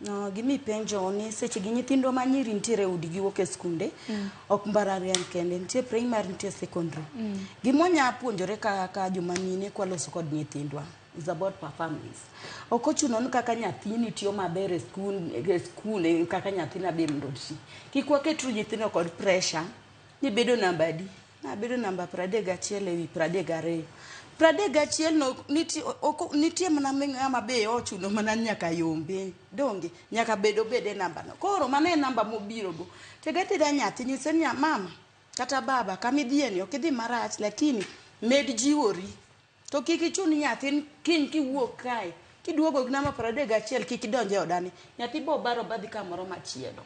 No, gimi penjo ni seche gi nyithindwa ma nyiri nitiere e udi giwuok e skunde mm. ok mbalariany kende nitie primary nitie secondary mm. gimonya puonjore ka, ka joma mine kwaloso kod nyithindwa is about performance ok ochuno ni kaka nyathini tiyo maber e skul e skul e kaka nyathina be mondo ti kik waket nyithindo kod pressure ni bedo namba adi Nabedo namba pradek gachiel ewi pradek gariyo. Pradek gachiel no nitie oko nitie mana ng'ama be ochuno mana nyaka yombe. Donge nyaka bed obed e namba no. Koro mano e namba mobiro go. Tega tega nyathi nyise niya mama kata baba kamidhiye ni ok idhi marach lakini med jiwori. To kik ichun nyathin kiny kiwuok kae kiduogo gi namba pradek gachiel kik idonj e odani. Nyathi bo baro badhi kamoro machielo.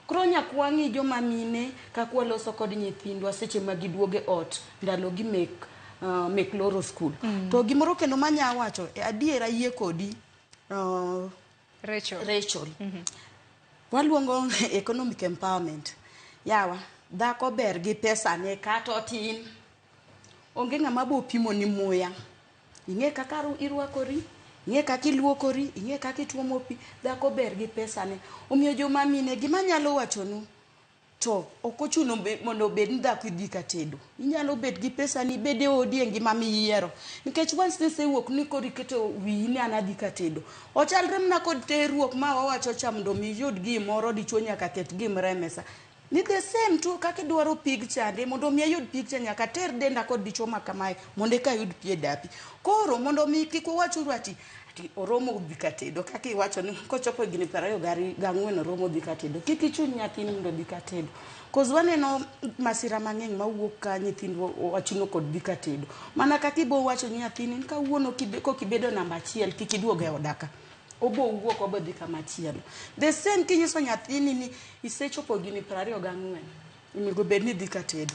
Koro nyakwa ng'i joma mine kaka waloso kod nyithindwa seche ma giduogo e ot ndalogi mek mek loro skul. To gimoro kendo manya wacho, adier ayie kodi Rachel. Rachel. Waluongo economic empowerment. Yawa, dhako ber gi pesane kata otin. Onge ng'ama bo pimoni muya. Ing'e kaka irwakori, ing'e kaka iluokori, ing'e kaka ituomo pi. Dhako ber gi pesane. Omiyo joma mine, gima anyalo wachonu, to ok ochuno mondo obed ni dhako idhi ka tedo. Inyalo bet gi pesani, ibed e odi e ngima miyiero. Nikech once ni isewuok ni koro iketo wiyi ni an adhi ka tedo. Ochalre mana kod terruok ma wawacho cha mondo mi iyud gimoro dichwo nyaka ket gimoro e mesa. Ni the same too kaka idwaro pig chande mondo mi ayud pig cha nyaka ater denda kod dichwo ma kamae mondo eka ayud pi e dapi. Koro mondo mi kik uwach uru ati ati oromo dhi ka tedo kaka iwacho ni kochopo higni piero ariyo gari- gang'wen oromo dhi ka tedo. Kik ichun nyathini mondo odhi ka tedo. Cause waneno masira mang'eny mawuok ka nyithindwa wachuno kod dhi ka tedo. Mana kaka ibo wacho ni nyathini ni kawuono kibe- kokibedo namba achiel kik iduog e oda ka. obowuok obodhi kama chielo the same kinyiso nyathini ni isechopo gini prariyo gang'wen onego bed ni idhi ka tedo